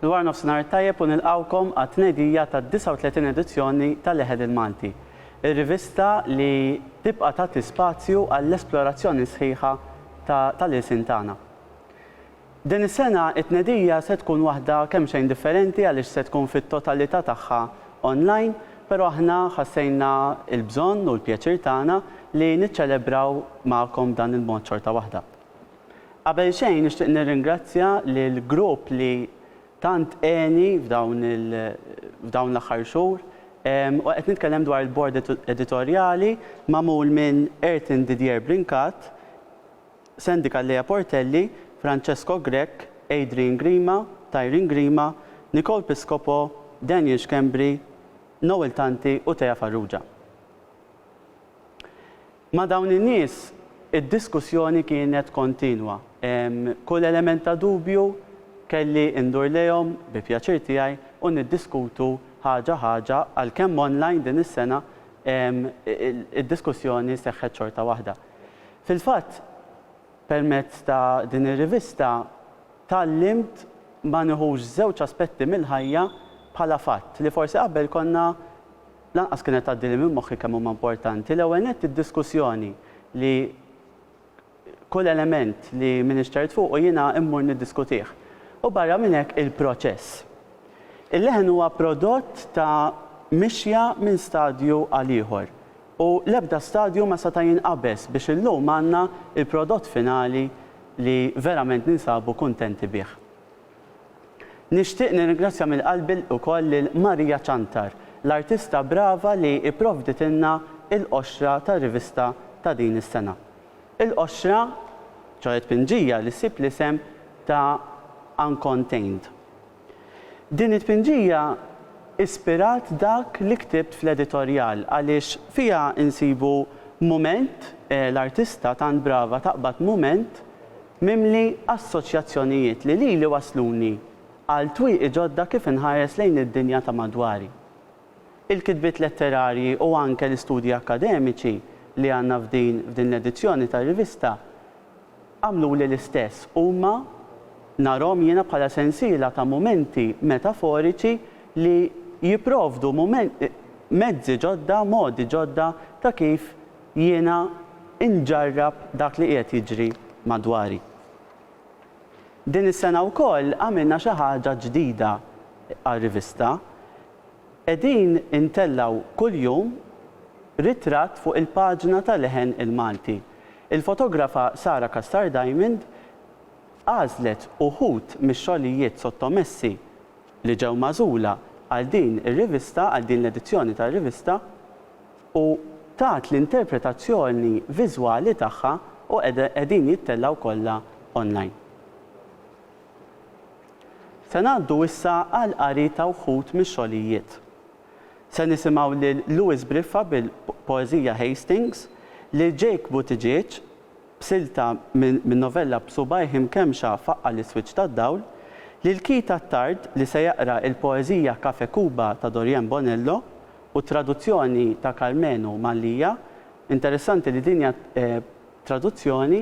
Dwar nofsinhar tajjeb u nilqgħukom għat-tnedija tad-39 edizzjoni ta' Leħed il-Malti, ir-rivista li tibqa' tagħti spazju għall-esplorazzjoni sħiħa tal-ilsien tagħna. Din is-sena t-tnedija se tkun waħda kemxejn differenti għaliex se tkun fit-totalità tagħha online, però aħna ħassejna l-bżonn u l-pjaċir tagħna li niċċelebraw magħkom b'dan il-mod xorta waħda. Qabel xejn nixtieq nirringrazzja lill-grupp li tant għeni f'dawn f'dawn l-aħħar xhur u qed nitkellem dwar il-Bord Editorjali magħmul minn Ertin Didier Brincat, Sendika Lea Portelli, Francesco Grech, Adrian Grima, Tyreen Grima, Nicole Piscopo, Daniel Schembri, Noel Tanti u Thea Farrugia. Ma' dawn in-nies id-diskussjoni kienet kontinwa. Kull element ta' dubju kelli indur lejhom bi pjaċir tiegħi u niddiskutu ħaġa ħaġa għalkemm online din is-sena id-diskussjoni seħħet xorta waħda. Fil-fatt, permezz ta' din ir-rivista tgħallimt ma nieħux żewġ aspetti mill-ħajja bħala fatt, li forsi qabel konna lanqas kienet tgħaddili minn moħħi kemm huma importanti. L-ewwel nett id-diskussjoni li kull element li m'iniex ċert fuqu jiena mmur niddiskutih. U barra minn hekk il-proċess. Il-leħen huwa prodott ta' mixja minn stadju għal ieħor. U l-ebda stadju ma seta' jinqabeż biex illum għandna l-prodott finali li verament ninsabu kuntenti bih. Nixtieq nirringrazzja minn qalbi wkoll lil Maria Ciantar, l-artista brava li pprovditilna l-qoxra tar-rivista ta' din is-sena. Il-qoxra, ċoħe tpinġija li ssib l-isem ta' Uncontained. Din it-tpinġija ispirat dak li ktibt fl-editorjal għaliex fiha nsibu mument, l-artista tant brava taqbad mument mimli assoċjazzjonijiet li lili wassluni għal twieqi ġodda kif inħares lejn id-dinja ta' madwari. Il-kitbiet letterarji u anke l-istudji akkademiċi li għandna f'din f'din l-edizzjoni tar-rivista, Għamluli l-istess huma, narhom jiena bħala sensiela ta' mumenti metaforiċi li jipprovdu mezzi ġodda, modi ġodda ta' kif jiena nġarrab dak li qiegħed jiġri madwari. Din is-sena wkoll għamilna xi ħaġa ġdida għar-rivista. Qegħdin intellgħu kuljum ritratt fuq il-paġna ta' Leħen il-Malti. Il-fotografa Sara Cassar Diamond għażlet uħud mix-xogħlijiet sottomessi li ġew magħżula għal din ir-rivista, għal din l-edizzjoni tar-rivista, u tat l-interpretazzjoni viżwali tagħha u qegħdin jittellgħu kollha online. Se ngħaddu issa għall-qari ta' wħud mix-xogħlijiet. Se nisimgħu lil Louis Briffa bil-poeżija Hastings, lil Jake Buttigieg b'silta min-novella B'subgħajh imkemmxa faqqa' l-iswiċċ tad-dawl, lil Keith Attard li se jaqra l-poeżija Cafe Cuba ta' Doriane Bonello u t-traduzzjoni ta' Karmenu Mallia, interessanti li din hija traduzzjoni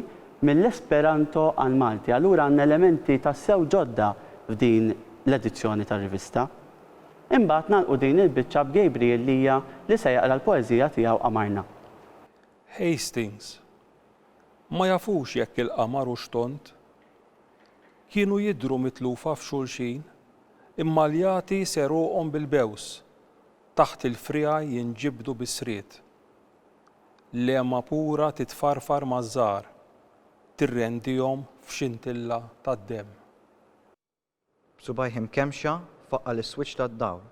mill-Esperanto għall-Malti. Allura għandna elementi tassew ġodda f'din l-edizzjoni tar-rivista. Imbagħad nagħlqu din il-biċċa b'Gabriel Lia li se jaqra l-poeżija tiegħu Qamarna. Hastings. Ma jafux jekk il-qamar hux tond. Kienu jidhru mitlufa f'xulxin, imma l-jagħti segħruqhom bil-bews, taħt il-friegħi jinġibdu bis-sried. L-għema pura titfarfar maż-żahar, tirrendihom f'xintilla tad-demm. B'subgħajh imkemmxa faqqa' l-iswiċċ tad-dawl.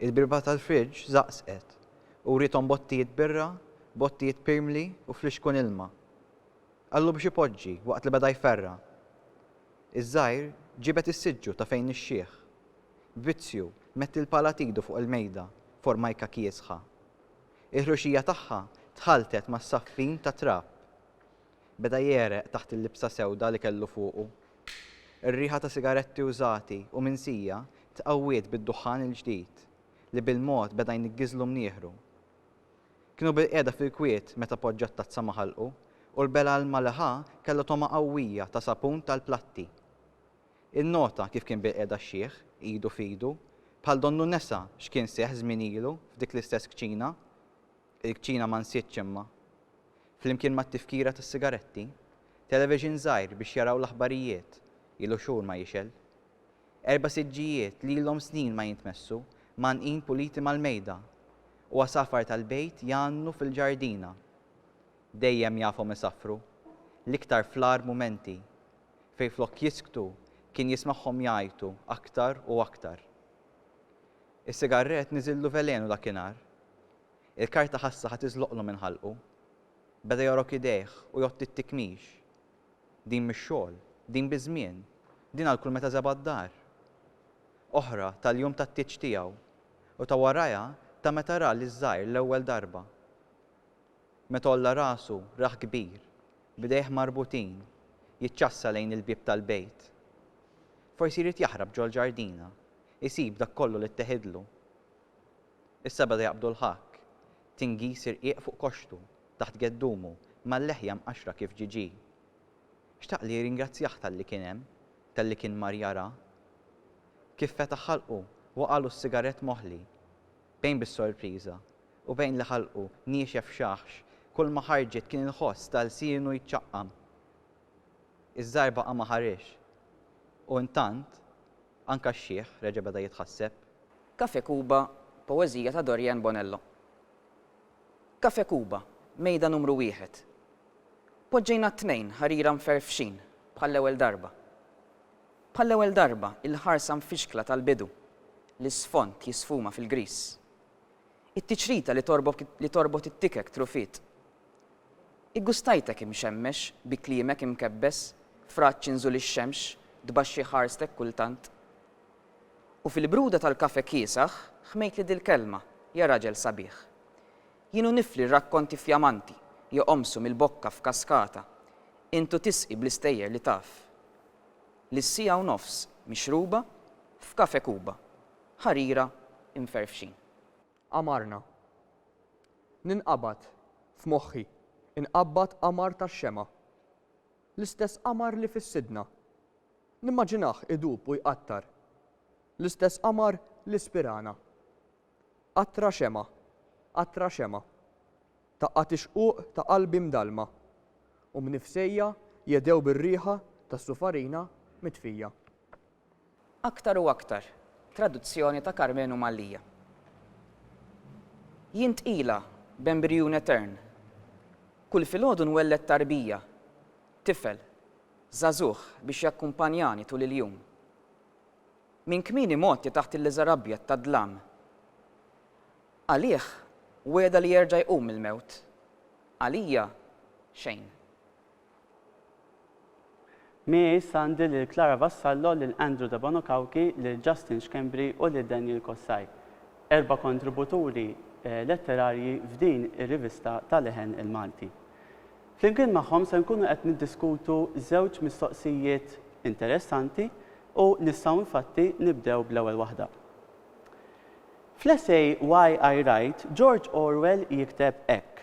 Il-birba tal-friġġ żaqżqet u wriethom bottijiet birra, bottijiet pirmli u flixkun ilma. Qallu biex ipoġġi waqt li beda jferra'. Iż-żgħir ġibed is-siġġu ta' fejn ix-xiħ. Vizzju metti l-pala t'idu fuq il-mejda formajka kiesħa. Il-ħruxija tagħha tħalltet mas-saffin tat-trab. Beda jegħreq taħt il-libsa sewda li kellu fuqu. Ir-riħa ta' sigaretti użati u minsija tqawwiet bid-duħħan il-ġdid li bil-mod beda jniggizlu mnieħru. Kienu bilqiegħda fil-kwiet meta poġġa t-tazza ma' ħalqu u l-bela ilma li ħa kellu togħma qawwija ta' sapun tal-platti. Innota kif kien bilqiegħda x-xiħ, idu f'idu, bħal donnu nesa x'kien seħħ żmien ilu f'dik l-istess kċina. Il-kċina ma nsietx imma. flimkien mat-tifkira tas-sigaretti, television żgħir biex jaraw l-aħbarijiet, ilu xhur ma jixgħel. Erba' siġġijiet li ilhom snin ma jintmessu, mgħannqin puliti mal-mejda, u għasafar tal-bejt jgħannu fil-ġardina. Dejjem jafhom isaffru, l-iktar fl-agħar mumenti, fejn flok jisktu kien jismagħhom jgħajtu aktar u aktar. Is-sigarrett niżillu velenu dakinhar. Il-karta ħassa ħa tiżloqlu minn ħalqu. Beda jogħrok idejh u jgħotti t-tikmix. Din mix-xogħol, din biż-żmien, din għal kull meta żebgħa d-dar. Oħra tal-jum tat-tieġ tiegħu u ta' warajha ta' meta ra liż-żgħir l-ewwel darba. Meta għolla rasu rah kbir, b'idejh marbutin, jiċċassa lejn il-bieb tal-bejt. Forsi jrid jaħrab ġol-ġardina, isib dak kollu li tteħidlu. Is-sebgħa li jaqbdu l-ħakk, tingiż irqiq fuq koxxtu, taħt geddumu, mal-leħja mqaxxra kif ġiġi. Xtaq li jirringrazzjah talli kien hemm, talli kien mar jara. Kif fetaħ ħalqu, waqagħlu s-sigarett moħli. Bejn bis-sorpriża, u bejn li ħalqu niexef xaħx, kulma ħarġet kien il-ħoss ta' lsienu jċaqqam. Iż-żgħir baqa' ma ħarex. U intant, anka x-xiħ reġa' beda jitħasseb. Cafe Cuba, poeżija ta' Dorian Bonello. Cafe Cuba, mejda numru wieħed. Poġġejna t-tnejn ħarira mferfxin bħall-ewwel darba. Bħall-ewwel darba il-ħarsa mfixkla tal-bidu, l-isfond jisfuma fil-griż. It-tiċrita li torbot it-tikek trufit. Iggustajtek imxemmex, bi kliemek imkebbes, f'raġġ inżul ix-xemx, tbaxxi ħarstek kultant. U fil-bruda tal-kafè kiesaħ, ħmejtli dil-kelma, ja raġel sabiħ. Jien u nifli rrakkonti fjamanti, joqomsu mill-bokka f'kaskata, int u tisqi bl-istejjer li taf. Li s-siegħa u nofs mixruba, f'Kafè Kuba, ħarira imferfxin. Qamarna. Ninqabad, f'moħħi, inqabbad qamar tax-xemgħa. L-istess qamar li fis-sidna. Nimmaġinah idub u jqattar. L-istess qamar li spirana. Qatra xemgħa, qatra xemgħa. Taqqa' tixquq ta' qalbi mdallma. U mnifsejja jedhew bir-riħa tas-sufarina mitfija. Aktar u aktar, traduzzjoni ta' Karmenu Mallia. Jien tqila, b'embrijun etern. Kull filgħodu nwelled tarbija, tifel, żagħżugħ biex jakkumpanjani tul il-jum. Minn kmieni mgħotti taħt il-liżar abjad tad-dlam. Għalih, wegħda li jerġa' jqum mill-mewt. Għalija, xejn. Miegħi sandi lil Clara Vassallo, lil Andrew Debono Cauchi, lil Justin Schembri u lil Daniel Cossai, erba' kontributuri letterarji f'din ir-rivista ta' leħen il-Malti. Flimkien magħhom se nkunu qed niddiskutu żewġ mistoqsijiet interessanti u nistgħu infatti nibdew bl-ewwel waħda. Fl-essej Why I Write, George Orwell jikteb hekk,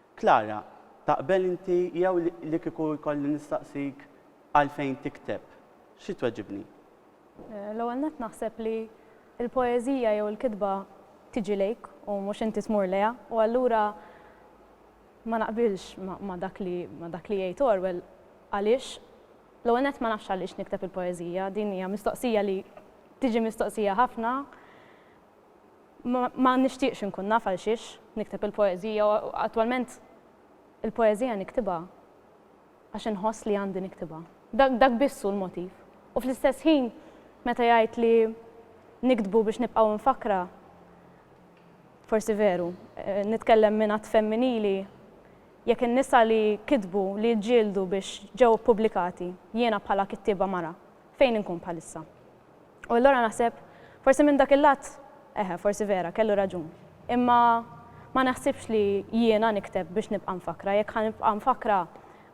Clara, Taqbel inti jew li kieku jkolli nistaqsik għalfejn tikteb, xi tweġibni? L-ewwel nett naħseb li l-poeżija jew il-kitba tiġi lejk u mhux inti tmur lejha u allura ma naqbilx ma' dak li ma' dak li jgħid Orwell għaliex l-ewwel nett ma nafx għaliex nikteb il-poeżija, din hija mistoqsija li tiġi mistoqsija ħafna ma nixtieqx inkun naf għalxiex nikteb il-poeżija u attwalment il-poeżija niktibha għax inħoss li għandi niktibha. Dak biss hu l-motiv. U fl-istess ħin meta jgħid li niktbu biex nibqgħu mfakkra, forsi veru, nitkellem minn att femminili, jekk in-nisa li kitbu, li ġġieldu biex ġew ippubblikati, jiena bħala kittieba mara, fejn inkun bħalissa? U allura naħseb, forsi minn dak il-lat, eħe, forsi vera, kellu raġun. Imma ma naħsibx li jiena nikteb biex nibqa' mfakkra. Jekk ħa nibqa' mfakkra,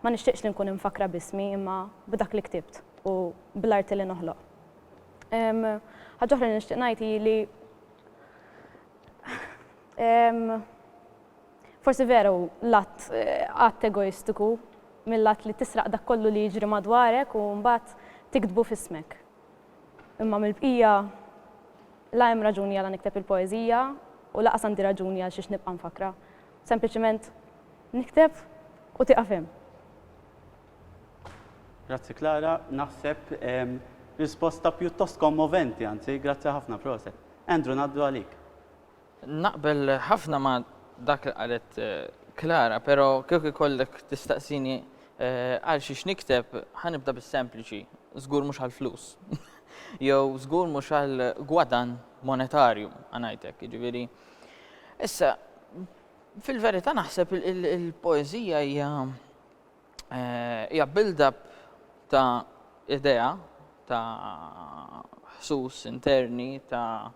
ma nixtieqx li nkun imfakkra b'ismi, imma b'dak li ktibt u bl-arti li noħloq. Ħaġa oħra li nixtieq ngħid hi li Forsi vera hu l-att att egoistiku mill-att li tisraq dak kollu li jiġri madwarek u mbagħad tiktbu f'ismek. Imma mill-bqija la hemm raġuni għala nikteb il-poeżija u laqas għandi raġuni għal xiex nibqa' nfakkrha. Sempliċiment nikteb u tieqaf hemm. Grazzi Klara, naħseb risposta pjuttost kommoventi, anzi, grazzi ħafna, proset. Andrew ngħaddu għalik. Naqbel ħafna ma' dak li qalet Clara, pero' kieku jkollek tistaqsini għal xiex nikteb, ħa nibda bis-sempliċi, żgur mhux għall-flus. Jew żgur mhux għal gwadann monetarju, ħa ngħid hekk, jiġifieri. Issa, fil-verità naħseb il-poeżija hija Eh, hija build-up ta' idea, ta' ħsus interni, ta',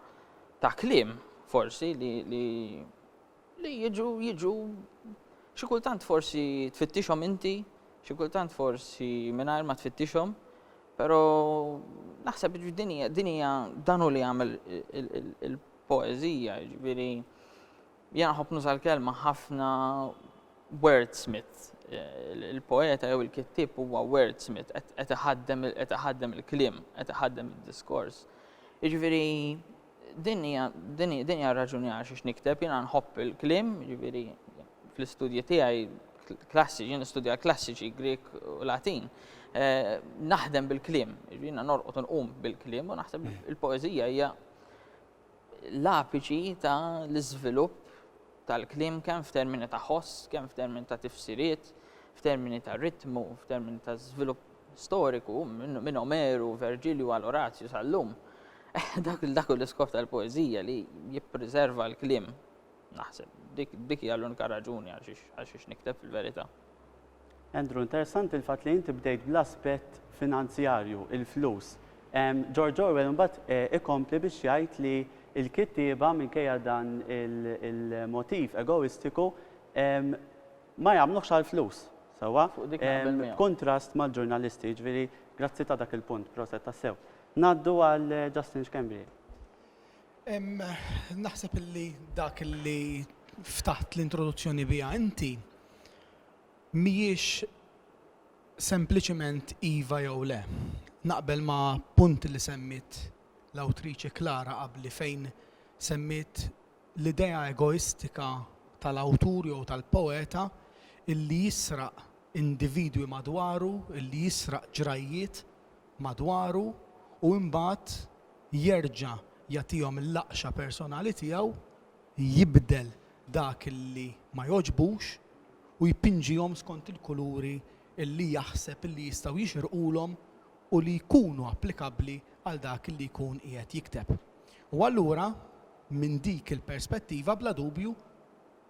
ta klim forsi li, li, li jiġu, jiġu, xi kultant forsi tfittixhom inti, xi kultant forsi mingħajr ma tfittixhom, però naħseb dinija, dinija danu li għamel il-poezija, ġviri, Jiena nħobb nuża l-kelma ħafna wordsmith. Il-poeta jew il-kittieb huwa wordsmith, qed iħaddem qed iħaddem il-kliem, qed iħaddem id-diskors. Jiġifieri din hija din hija raġuni għal xiex nikteb, jiena nħobb il-kliem, jiġifieri fl-istudji tiegħi klassiċi, jien nistudja klassiċi Grik u Latin. Eh, naħdem bil-kliem, jiena norqod nqum bil-kliem u naħseb il-poeżija hija l-apiċi ta' l-iżvilupp tal-kliem kemm f'termini ta' ħoss, kemm f'termini ta' tifsiriet, f'termini ta' ritmu, f'termini ta' żvilupp storiku minn Omeru, Verġilju għal Orazju sal-lum. Dak dak l-iskop tal-poeżija li jippriserva l-kliem. Naħseb dik dik hija l-unika raġuni għal xiex nikteb fil-verità. Andrew, interessanti l-fatt li inti bdejt bl-aspett finanzjarju, il-flus. George Orwell imbagħad eh, ikompli biex jgħid li l-kittieba minkejja dan il-motiv egoistiku ma jagħmluhx għall-flus. Sewwa? B'kuntrast mal-ġurnalisti, jiġifieri grazzi ta' dak il-punt, proset tassew. Ngħaddu għal eh, Justin Schembri. Naħseb illi dak li ftaħt l-introduzzjoni biha inti Mhijiex sempliċement iva jew le. Naqbel ma' punt li semmiet l-awtriċi Clara qabli fejn semmiet l-idea egoistika tal-awtur jew tal-poeta illi jisraq individwi madwaru, illi jisraq ġrajjiet madwaru u imbagħad jerġa' jagħtihom il-laqxa personali tiegħu jibdel dak li ma jogħġbux u jpinġihom skont il-kuluri li jaħseb li jistgħu jixirqulhom u li jkunu applikabbli għal dak li jkun qiegħed jikteb. U allura, minn dik il-perspettiva, bla dubju,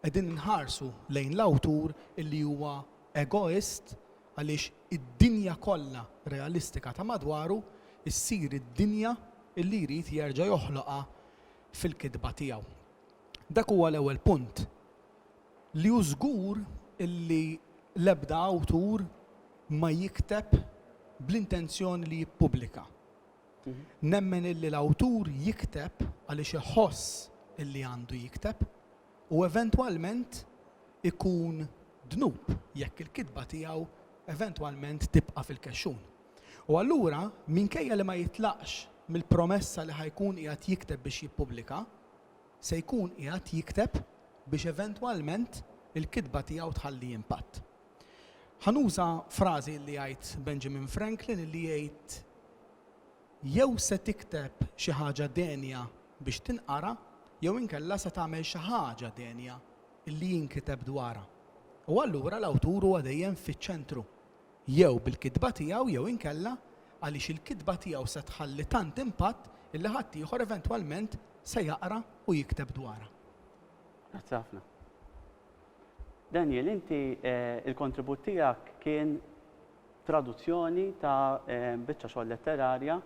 qegħdin inħarsu lejn l-awtur li huwa egoist għaliex id-dinja kollha realistika ta' madwaru ssir id-dinja li jrid jerġa' joħloqha fil-kitba tiegħu. Dak huwa l-ewwel punt li hu żgur illi l-ebda awtur ma jikteb bl-intenzjoni li jippubblika. Nemmen illi l-awtur jikteb għaliex iħoss illi għandu jikteb u eventwalment ikun dnub jekk il-kitba tiegħu eventwalment tibqa' fil-kexxun. U allura, minkejja li ma jitlaqx mill-promessa li ħa jkun qiegħed jikteb biex jippubblika, se jkun qiegħed jikteb biex eventwalment il-kitba tiegħu tħalli impatt. Ħa nuża frażi li jgħid Benjamin Franklin li jgħid jew se tikteb xi ħaġa denja biex tinqara jew inkella se tagħmel xi ħaġa denja li jinkiteb dwarha. U allura l-awtur huwa dejjem fiċ-ċentru jew bil-kitba tiegħu jew inkella għaliex il-kitba tiegħu se tħalli tant impatt illi ħaddieħor eventwalment se jaqra u jikteb dwarha. Grazzi ħafna. Daniel, inti il-kontribut tiegħek kien traduzzjoni ta' biċċa xogħol letterarja,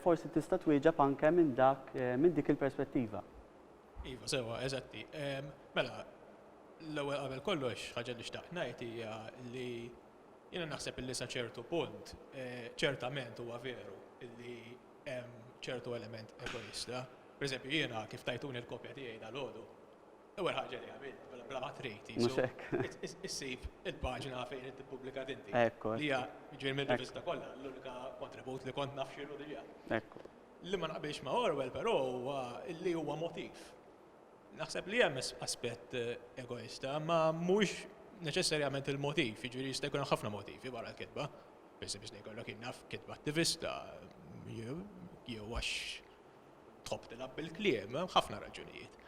forsi tista' twieġeb anke minn dak minn dik il-perspettiva. Iva, sewa, eżatti. Mela, l-ewwel qabel kollox ħaġa li xtaqt ngħid hija li jiena naħseb li sa ċertu punt eh, ċertament huwa veru li hemm ċertu element egoista. Per eżempju, jiena kif tajtuni l-kopja tiegħi dal-għodu, ewwel ħaġa li għamil, mela, bla ma trid, issib il-paġna fejn qed tippubblika tinti. Ekku. Li hija ġiel minn rivista kollha, l-unika kontribut li kont nafxilu diġà. Ekku. Li ma naqbilx ma' Orwell però huwa li huwa motiv. Naħseb li hemm aspett egoista, imma mhux neċessarjament il-motiv, jiġifieri jista' jkun hemm ħafna motivi wara l-kitba. Pereżempju jista' jkollok jien naf kitba attivista jew għax tħobb tilgħab bil-kliem, hemm ħafna raġunijiet.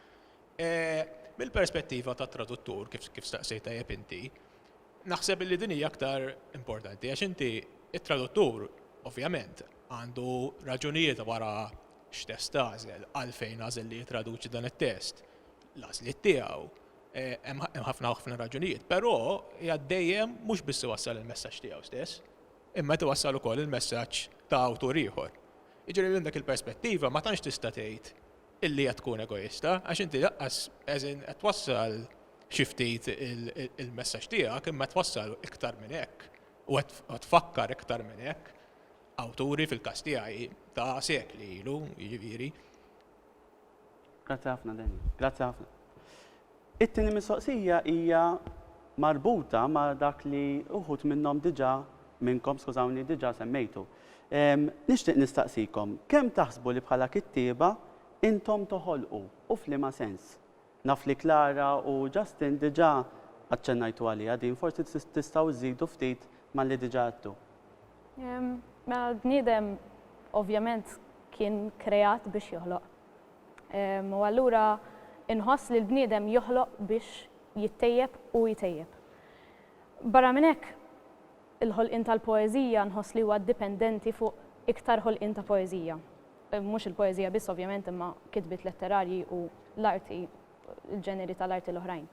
Mill-perspettiva tat-traduttur, kif staqsejt tajjeb inti, Naħseb illi din hija aktar importanti għax inti t-traduttur ovvjament għandu raġunijiet wara x'test għażel, għalfejn għażel li jittraduċi dan it-test, l-għażliet tiegħu, hemm ħafna ħafna raġunijiet, però hija dejjem mhux biss iwassal il-messaġġ tiegħu stess, imma qed iwassal ukoll il-messaġġ ta' awtur ieħor. Jiġifieri minn dik il-perspettiva ma tantx tista' tgħid illi qed tkun egoista, għax inti laqqas, as in, qed twassal xi ftit il-messaġġ tiegħek imma qed twassal iktar minn hekk u qed tfakkar iktar minn hekk awturi fil-każ tiegħi ta' sekli ilu, jiġifieri. Grazzi ħafna Daniel. Grazzi ħafna. It-tieni mistoqsija hija marbuta ma' dak li uħud minnhom diġà, minnkom skużawni, diġà semmejtu. Nixtieq nistaqsikom, kemm taħsbu li bħala kittieba intom toħolqu u f'liema sens? Naf li Clara u Justin diġà aċċennajtu għaliha din, forsi tistgħu żżidu ftit malli diġà għedtu. Mela l-bniedem ovvjament kien kreat biex joħloq. U allura inħoss li l-bniedem joħloq biex jittejjeb u jtejjeb. Barra minn hekk, il-ħolqien tal-poeżija nħoss li huwa dipendenti fuq iktar ħolqien ta' poeżija. Mhux il-poeżija biss ovvjament imma kitbiet letterarji u l-arti, il-ġeneri tal-arti l-oħrajn.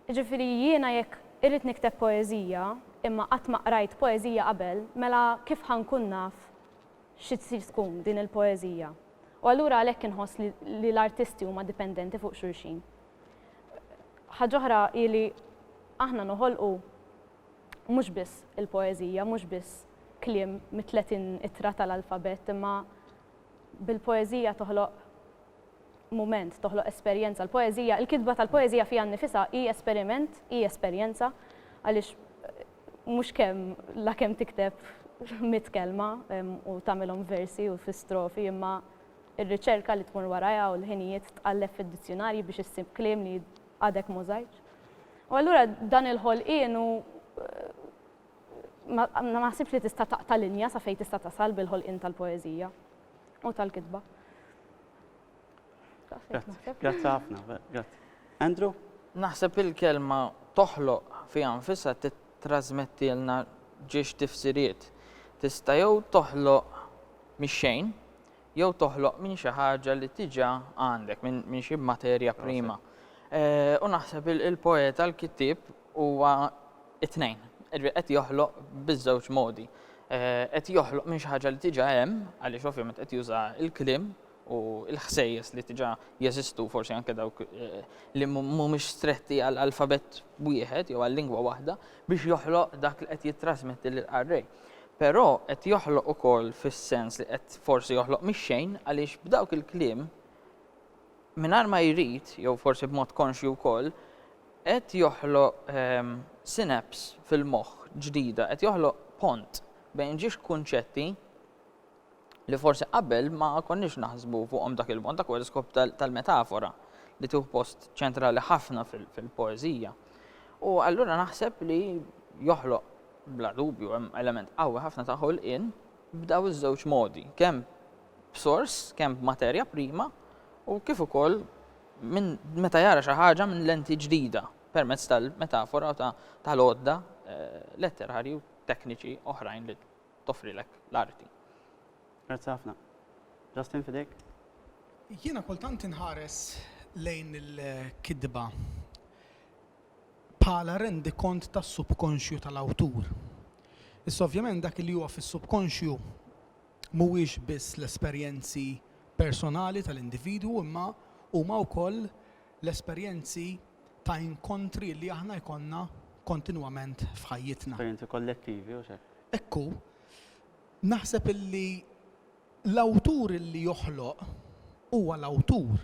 Jiġifieri jiena jekk irrid nikteb poeżija imma qatt ma qrajt poeżija qabel, mela kif ħa nkun naf xi tsir tkun din il-poeżija. U allura għalhekk inħoss li l-artisti huma dipendenti fuq xulxin. Ħaġ'oħra hi li aħna noħolqu mhux biss il-poeżija, mhux biss kliem mit-30 ittra tal-alfabett, imma bil-poeżija toħloq mument, toħloq esperjenza. L-poeżija, il-kitba tal-poeżija fiha nnifisha hi esperiment, hi esperjenza, għaliex mhux kemm la kemm tikteb mitt kelma u tagħmilhom versi u fi strofi imma r-riċerka li tmur warajha u l-ħinijiet tqalleb fid-dizzjunarji biex issib kliem li għadek m'użajtx. U allura dan il-ħolqien hu ma naħsibx li tista' taqta' linja sa fejn tista' tasal bil-ħolqien tal-poeżija. u tal-kitba. Grazzi ħafna, grazzi. Andrew? Naħseb il-kelma toħloq fi anfisa titrasmettilna ġiex tifsiriet. Tista' jew toħloq mix-xejn, jew toħloq minn xi ħaġa li tiġa għandek, minn xi materja prima. Eh, u naħseb il-poeta, l-kittib, Huwa t-tnejn. Jiġifieri qed joħloq biż-żewġ modi. Qed joħloq minn xi ħaġa li diġà hemm, għaliex ovvjament qed juża l-kliem u l-ħsejjes li diġà jeżistu, forsi anke dawk li mhumiex stretti għal alfabett wieħed jew għal lingwa waħda, biex joħloq dak li qed jittrasmetti lill-qarrej. Però qed joħloq ukoll fis-sens li qed forsi joħloq mix-xejn għaliex b'dawk il-kliem, mingħajr ma jrid, jew forsi b'mod konxju wkoll, qed joħloq synapse fil-moħħ ġdida, qed joħloq pont bejn ġiex kunċetti li forsi qabel ma konniex naħsbu fuqhom dak il-mod, dak huwa l-iskop tal-metafora li tieħu post ċentrali ħafna fil-poeżija. U allura naħseb li joħloq bla dubju hemm element qawwi ħafna ta' ħolqien b'daw iż-żewġ modi, kemm b'sors kemm b'materja prima u kif ukoll minn meta jara xi ħaġa minn lenti ġdida permezz tal-metafora u tal-għodda letterarji u tekniċi oħrajn li toffrilek l-arti. Grazzi ħafna. Justin fidejk. Jiena kultant inħares lejn il-kitba bħala rendikont tas-subkonxju tal-awtur. Issa ovvjament dak li huwa fis-subkonxju mhuwiex biss l-esperjenzi personali tal-individwu imma huma wkoll l-esperjenzi ta' inkontri li aħna jkollna kontinwament f'ħajjitna. Esperjenzi kollettivi, hux hekk? Hekk hu. Naħseb illi l-awtur illi joħloq huwa l-awtur.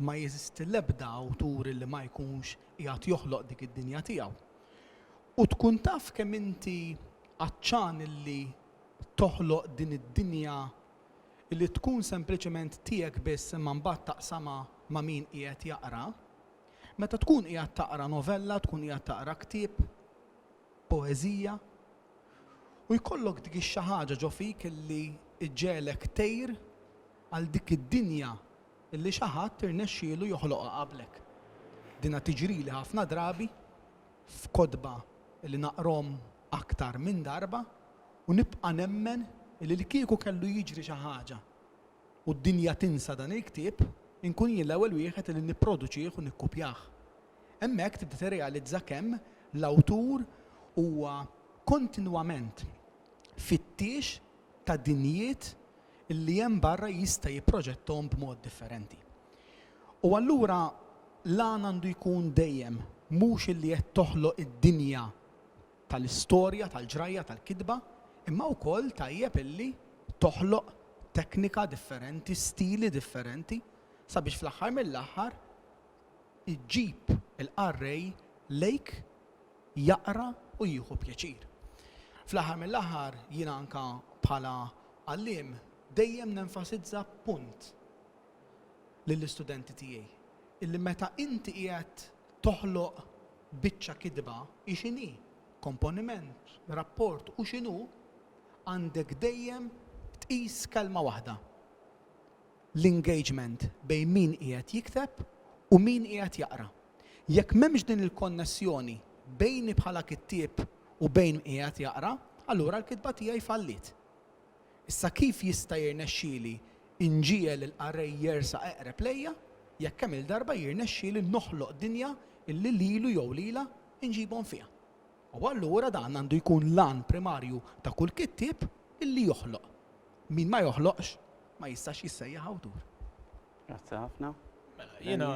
Ma jeżisti l-ebda awtur illi ma jkunx qiegħed joħloq dik id-dinja tiegħu. U tkun taf kemm inti għatxan illi toħloq din id-dinja li tkun sempliċement tiegħek biss imma mbagħad taqsamha ma' min qiegħed jaqra. Meta tkun qiegħed taqra novella, tkun qiegħed taqra ktieb, poeżija, u jkollok dik ix-xi ħaġa ġo fik li ġġegħlek tgħir għal dik id-dinja li xi ħadd irnexxielu joħloqha qablek. Dinha tiġrili ħafna drabi f'kotba li naqrahom aktar minn darba u nibqa' nemmen li li kieku kellu jiġri xi ħaġa u d-dinja tinsa dan il-ktieb, inkun jien l-ewwel wieħed li nipproduċih u nikkupjah. Hemmhekk tibda tirrealizza kemm l-awtur huwa kontinwament fittiex ta' dinjiet li hemm barra jista' jipproġettahom b'mod differenti. U allura l-għan għandu jkun dejjem mhux illi qed toħloq id-dinja tal-istorja, tal-ġrajja, tal-kitba, imma wkoll tajjeb illi toħloq teknika differenti, stili differenti, sabiex fl-aħħar mill-aħħar iġġib il-qarrej lejk jaqra u jieħu pjaċir. Fl-aħħar mill-aħħar jiena anke bħala għalliem dejjem nenfasizza punt, lill-istudenti tiegħi illi meta inti qiegħed toħloq biċċa kitba, hi x'inhi, komponiment, rapport u x'inhu, għandek dejjem tqis kelma waħda, l-engagement bejn min qiegħed jikteb u min qiegħed jaqra. Jekk m'hemmx din il-konnessjoni bejni bħala kittieb u bejn min qiegħed jaqra, allura l-kitba tiegħi falliet. Issa kif jista' jirnexxieli nġiegħel il-qarrej jersaq eqreb lejja jekk kemm-il darba jirnexxieli noħloq dinja li lilu jew lilha nġibhom fiha? U allura dan għandu jkun l-għan primarju ta' kull kittieb li joħloq. Min ma joħloqx ma jistax jissejjaħ awtur. Grazzi ħafna. Mela, jiena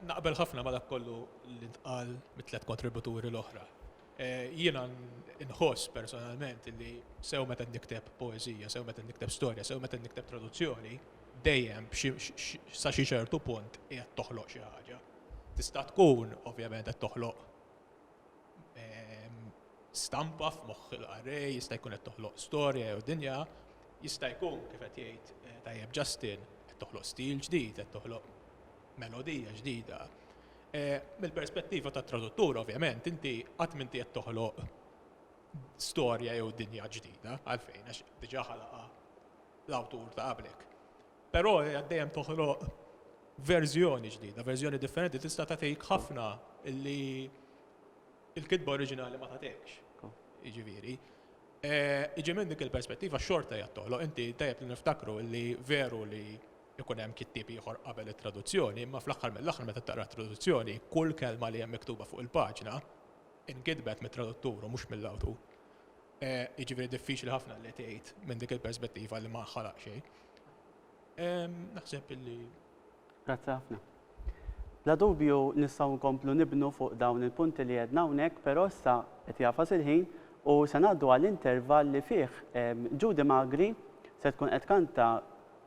naqbel ħafna ma' dak kollu li ntqal mit-tliet kontributuri l-oħra. Jiena nħoss personalment li sew meta nikteb poeżija, sew meta nikteb storja, sew meta nikteb traduzzjoni, dejjem sa xi ċertu punt qiegħed toħloq xi ħaġa. Tista' tkun ovvjament qed toħloq stampa f'moħħ il-qarrej, jista' jkun qed toħloq storja jew dinja, jista' jkun kif qed jgħid tajjeb Justin qed toħloq stil ġdid, qed toħloq melodija ġdida. Mill-perspettiva tat-traduttur, ovvjament, inti qatt m'inti qed toħloq storja jew dinja ġdida, għalfejn, għax diġà ħalaqha l-awtur ta' qablek. Però qed dejjem toħloq verżjoni ġdida, verżjoni differenti, tista' tagħtik ħafna li l-kitba oriġinali ma tagħtikx. Jiġifieri, iġi minn dik il-perspettiva xorta hija toħloq, inti tajjeb li niftakru li veru li ikun hemm kittieb ieħor qabel it-traduzzjoni, imma fl-aħħar mill-aħħar meta taqra t-traduzzjoni, kull kelma li hemm miktuba fuq il-paġna nkitbet mit-traduttur u mhux mill-awtur. Jiġifieri diffiċli ħafna li tgħid minn dik il-perspettiva li ma ħalaq xejn. Naħseb illi. Grazzi ħafna. Bla dubju nistgħu nkomplu nibnu fuq dawn il-punti li għedna hawnhekk, però issa qed jagħfas il-ħin u se ngħaddu għal intervall li fih Judy Magri se tkun qed tkanta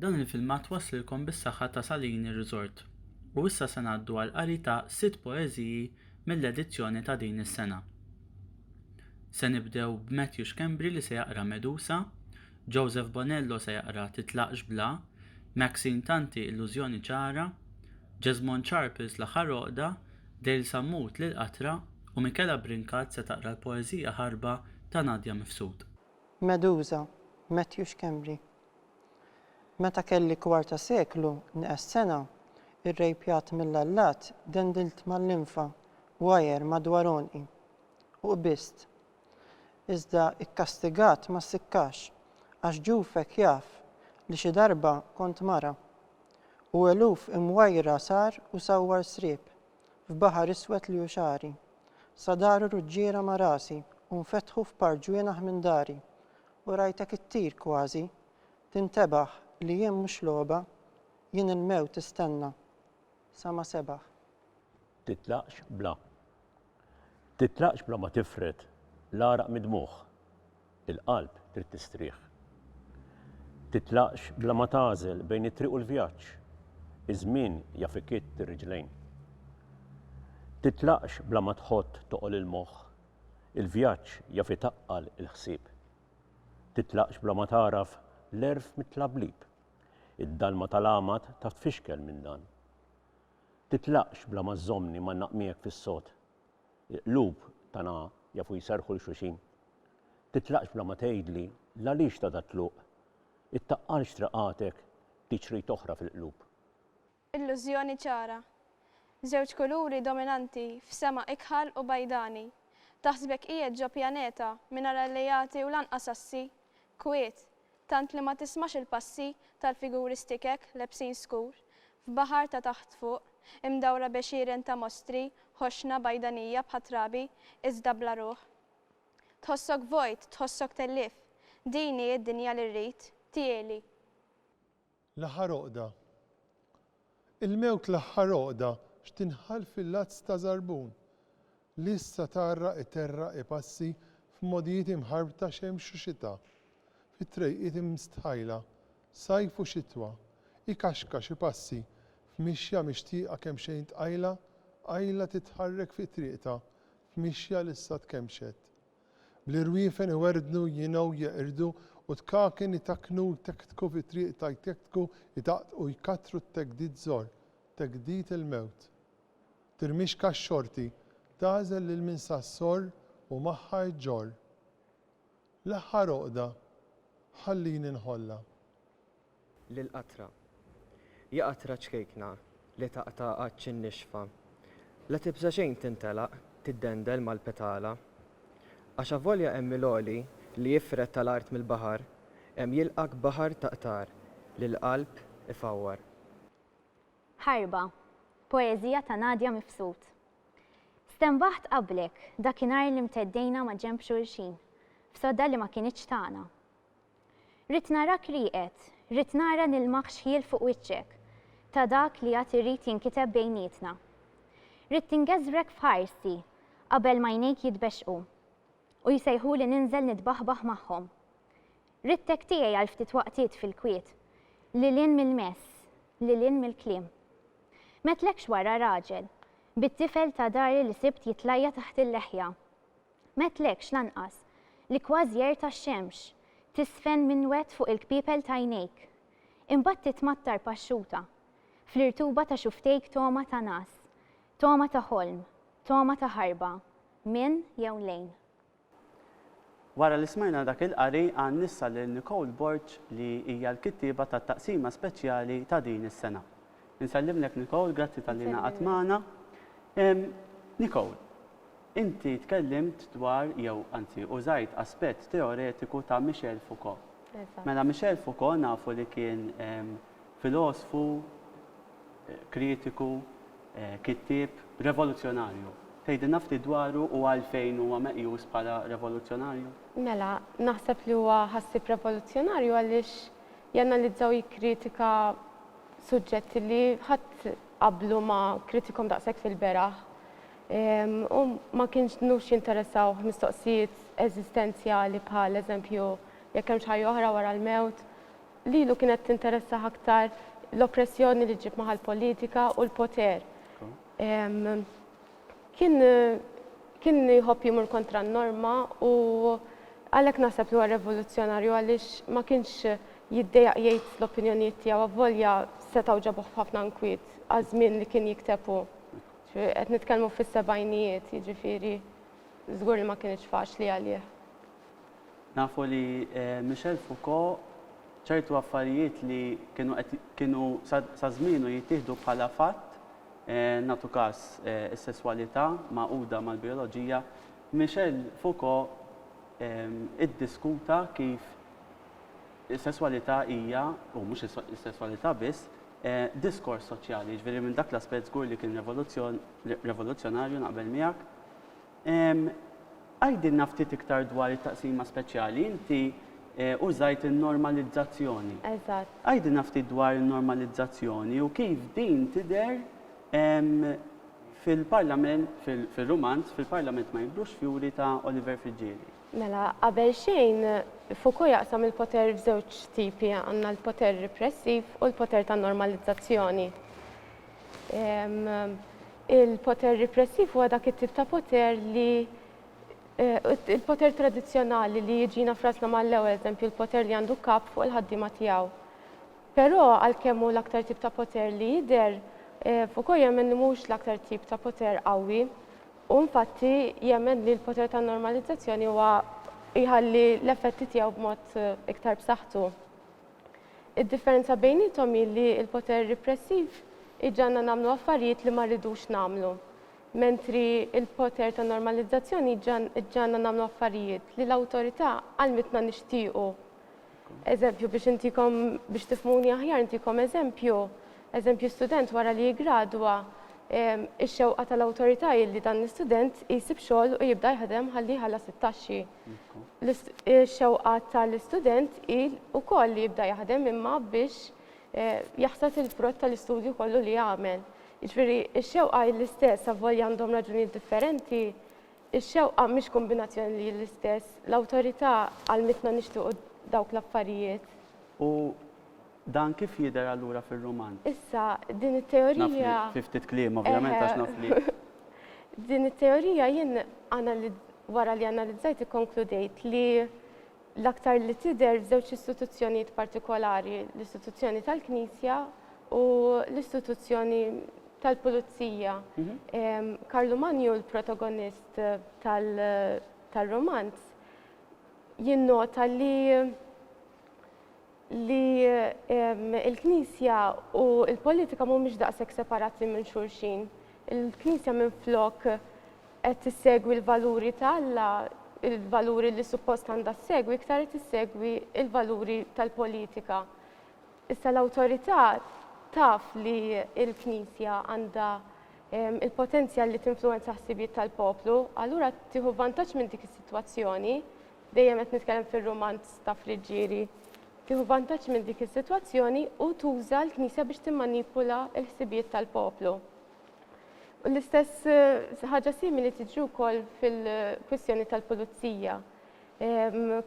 Dan il-filmat waslilkom bis-saħħa ta' Salini Resort. U issa se ngħaddu għal qari ta' sitt poeżiji mill-edizzjoni ta' din is-sena. Se nibdew b'Matthew Schembri li se jaqra Medusa, Joseph Bonello se jaqra Titlaqx Bla, Maxine Tanti Illużjoni Ċara, Jesmond Charples L-Aħħar Għoqda Dale Sammut lil qatra u Michela Brincat se taqra l-poeżija Ħarba ta' Nadia Mifsud. Medusa, Matthew Schembri. Meta kelli kwarta seklu, nqes sena, irrejpjat mill-allat, dendilt mal-linfa, wire madwar għonqi. U qbist. iżda kkastigat ma ssikkax, għax ġufek jaf li xi darba kont mara, u eluf imwajra sar u sawwar sriep, f'baħar iswed li hu xagħri, sa daru ruġġiera ma' rasi u nfetħu f'par ġwienaħ minn dari, u rajtek ittir kważi, tintebaħ li jien mhux logħba, jien il-mewt istenna, sa ma sebaħ. Titlaqx bla. Titlaqx bla ma tifred l-għaraq mid-dmugħ, il-qalb trid tistrieħ. Titlaqx bla ma tagħżel bejn it-triq u l-vjaġġ, iż-żmien jaf ikitt ir-riġlejn. Titlaqx bla ma tħott toqol il-moħħ, il-vjaġġ jaf itaqqal il-ħsieb. Titlaqx bla ma tagħraf l-għerf mit-tlablib, id-dalma tal-għamad taf tfixkel minn dan. Titlaqx bla ma żżommni mgħannaq miegħek fis-sod. Il-qlub tagħna jafu jserrħu 'l xulxin. Titlaqx bla ma tgħidli l-għaliex ta' dat-tluq. Ittaqqalx triqatek b'tit xrid oħra fil-qlub. Illużjoni ċara. Żewġ kuluri dominanti f'sema ikħal u bajdani. Taħsbek qiegħed ġo pjaneta mingħajr alleati u lanqas assi? Kwiet, Tant li ma tismax il-passi tal-figuri stikek lebsin skur, f'baħar ta' taħt fuq, imdawra b'għexieren ta' mostri, ħoxna bajdanija bħat-trabi, iżda bla ruħ. Tħossok vojt, tħossok tellif. Din hi d-dinja li rrid, tiegħli. L-aħħar għoqda Il-mewt l-aħħar għoqda x'tinħall fil-għadd ta' żarbun li issa tgħarraq iterraq ipassi f'modijiet imħarbta xemx u xita, fi trejqiet imstħajla, sajf u xitwa, ikaxkax ipassi f'mixja mixtieqa kemxejn tqajla, qajla titħarrek fi triqtha f'mixja li issa tkemxet. Bl-irwiefen iwerdnu, jingħu, jeqirdu, u tkaken itakknu, jtektku fi triq ta' jtektku, itaqtqu, jkattru t-tegdid żor, tegdid il-mewt. Tirmixka x-xorti, tagħżel lil min sa s-sorr u magħha iġġorr. L-aħħar għoqda, ħallini nħollha. lil qatra. Ja qatra ċkejkna li taqta' għatx in-nixfa, la tibża' xejn tintelaq tiddendel mal-petala. Għax avolja hemm il-għoli li jifred tal-art mill-baħar, hemm jilqgħek baħar ta' qtar li l-qalb ifawwar. Ħarba, poeżija ta' Nadia Mifsud Stenbaħt qablek, dakinhar li mteddejna maġenb xulxin, f'sodda li ma kinitx tagħna. Ridt narak rieqed, ridt nara nilmaħ xħiel fuq wiċċek, ta' dak li għad irid jinkiteb bejnietna. Ridt tingeżwrek f'ħarsi qabel m'għajnejk jitbexxqu, u jsejħuli ninżel nitbaħbaħ magħhom. Ridtek tiegħi għal ftit waqtiet fil-kwiet, lil hinn mill-mess, lil hinn mill-kliem. M'għedtlekx wara, raġel, bit-tifel ta' dari li sibt jitlajja' taħt il-leħja. M'għedtlekx, lanqas, li kważi għerta x-xemx, tiżfen minwed fuq il-kpiepel t'għajnejk. Imbagħad titmattar paxxuta, fl-irtuba ta' xufftejk togħma ta' ngħas, togħma ta' ħolm, togħma ta' ħarba, minn jew lejn. Wara li smajna dak il-qari għan issa lil Nicole Borg li hija l-kittieba tat-taqsima speċjali ta' din is-sena. Insellimlek Nicole, grazzi talli ingħaqadt magħna. Nicole, inti tkellimt dwar jew anzi użajt aspett teoretiku ta' Michel Foucault. Mela Michel Foucault nafu li kien filosfu, kritiku, kittieb revoluzzjonarju. Tgħidilna ftit dwaru u għalfejn huwa meqjus bħala revoluzzjonarju? Mela, naħseb li huwa ħassieb revoluzzjonarju għaliex janalizza u jikkritika Suġġett li ħadd qablu ma kritikom daqshekk fil-beraħ u ma kinux jinteressawh mistoqsijiet eżistenzjali bħal eżempju jekk hemmx ħajja oħra wara l-mewt. Lilu kienet tinteressah aktar l-oppressjoni li ġġib magħha l-politika u l-poter. Kien kien jħobb jmur kontra n-norma u għalhekk naħseb li huwa revoluzzjonarju għaliex ma kienx jiddejjaq jgħid l-opinjonijiet tiegħu avolja setgħu ġabuh f'ħafna nkwiet għaż-żmien li kien jikteb hu. Qed nitkellmu fis-sebgħinijiet, jiġifieri żgur li ma kinitx faċli għalih. Nafu li Michel Foucault ċertu affarijiet li kienu qed kienu sa żmienu jittieħdu bħala fatt, nagħtu każ is-sesswalità magħquda mal-bijoloġija, Michel Foucault iddiskuta kif is-sesswalità hija, u mhux is-sesswalità biss, diskors soċjali. Jiġifieri minn dak l-aspett żgur li kien revoluzzjonarju naqbel miegħek. Għidilna ftit iktar dwar it-taqsima speċjali. Inti użajt in-normalizzazzjoni. Eżatt. Għidilna ftit dwar in-normalizzazzjoni u kif din tidher fil-parlament, fir-rumanz, fil-parlament ma jikbrux fjuri ta' Oliver Friggieri. Mela, qabel xejn, Foucault jaqsam il-poter f'żewġ tipi, għandna l-poter ripressiv u l-poter tan-normalizzazzjoni. Il-poter ripressiv huwa dak it-tip ta' poter li il-poter tradizzjonali li jiġina f'rasna mal-ewwel eżempju l-poter li għandu kap fuq il-ħaddiema tiegħu. Però għalkemm hu l-aktar tip ta' poter li jidher, Foucault jemmen li mhuwiex l-aktar tip ta' poter qawwi. Hu infatti jemmen li l-poter tan-normalizzazzjoni huwa jħalli l-effetti tiegħu b'mod iktar b'saħħtu. Id-differenza bejniethom hi li l-poter ripressiv iġagħalna nagħmlu affarijiet li ma rridux nagħmlu, mentri l-poter ta' normalizzazzjoni iġagħalna nagħmlu affarijiet li l-awtorità għallmitna nixtiequ. Eżempju, biex intikom biex tifhmuni aħjar intikom eżempju, eżempju student wara li jiggradwa, ix-xewqa tal-awtorità hi li dan l-istudent isib xogħol u jibda jaħdem ħalli jħallas it-taxxi. Ix-xewqa tal-istudent hi wkoll li jibda jaħdem imma biex eh, jaħsad il-frott tal-istudju kollu li għamel. Jiġifieri x-xewqa hi l-istess avvolja għandhom raġunijiet differenti, ix-xewqa mhix kombinazzjoni li hi l-istess, l-awtorità għalmitna nixtiequ dawk l-affarijiet. U Dan kif jidher allura fir-ruman? Issa, din it-teorija. Naf li fi ftit kliem, ovvjament, għax naf li. Din it-teorija jien wara li analizzajt ikkonkludejt li l-aktar li tidher f'żewġ istituzzjonijiet partikolari, l-istituzzjoni tal-Knisja u l-istituzzjoni tal-Pulizija. Mhm. Karlu Manju, l-protagonist tal-romanz, jinnota li li l-Knisja u l-politika mhumiex daqshekk separati minn xulxin. Il-Knisja minflok qed tissegwi l-valuri ta' Alla, il-valuri li suppost għandha ssegwi, iktar qed tissegwi l-valuri tal-politika. Issa l-awtorità taf li l-Knisja għandha il-potenzjal li tinfluwenza ħsibijiet tal-poplu, allura tieħu vantaġġ minn dik is-sitwazzjoni dejjem qed nitkellem fir-rumanz ta' Friggieri, tieħu vantaġġ minn dik is-sitwazzjoni u tuża l-Knisja biex timmanipula l-ħsibijiet tal-poplu. U l-istess ħaġa simili tiġri wkoll fil-kwistjoni tal-pulizija.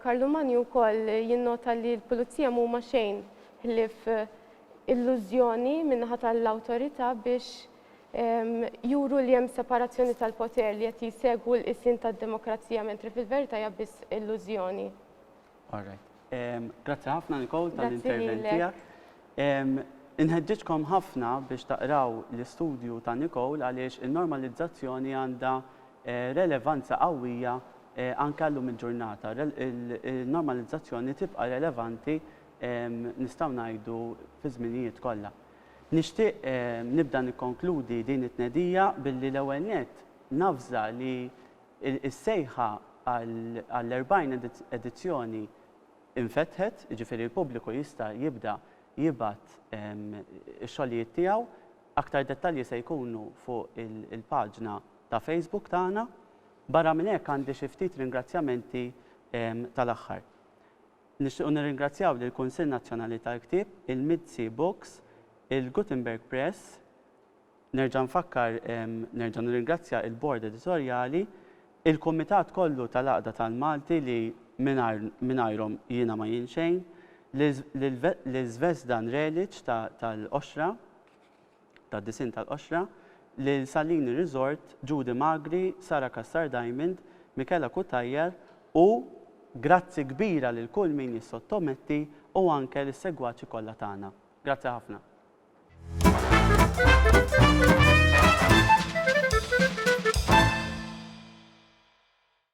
Karlu Manju wkoll jinnota li l-pulizija mhuma xejn ħlief illużjoni min-naħa tal-awtorità biex juru li hemm separazzjoni tal-poter li qed jsegwu l-qisien tad-demokrazija mentri fil-verità hija biss illużjoni. Alright. Grazzi ħafna Nicole tal-intervent tiegħek. Inħeġġiġkom ħafna biex taqraw l-istudju ta' Nicole għaliex in-normalizzazzjoni għandha eh, relevanza qawwija eh, anke llum il-ġurnata. Il-normalizzazzjoni tibqa' relevanti nistgħu ngħidu fi żminijiet kollha. Nixtieq nibda nikkonkludi din it-tnedija billi l-ewwel nett navża li s-sejħa għall-40 edizzjoni infetħet, jiġifieri l-pubbliku jista' jibda jibgħat ix-xogħlijiet tiegħu. Aktar dettalji se jkunu fuq il-paġna ta' Facebook tagħna. Barra minn hekk għandi xi ftit ringrazzjamenti tal-aħħar. Nixtiequ nirringrazzjaw lill-Kunsill Nazzjonali tal-Ktieb, il-Mizzi Books, il-Gutenberg Press, nerġa' nfakkar nerġa' nirringrazzja il-Bord Editorjali, il-Kumitat kollu tal-Għaqda tal-Malti li mingħajr mingħajrhom jiena ma jien xejn, lil Zvezdan Relic tal-Qoxra, tad-disinn tal-qoxra, lil Salini Resort, Judy Magri, Sara Cassar Diamond, Michela Cutajar u grazzi kbira lil kull min jissottometti u anke lis-segwaċi kollha tagħna. Grazzi ħafna.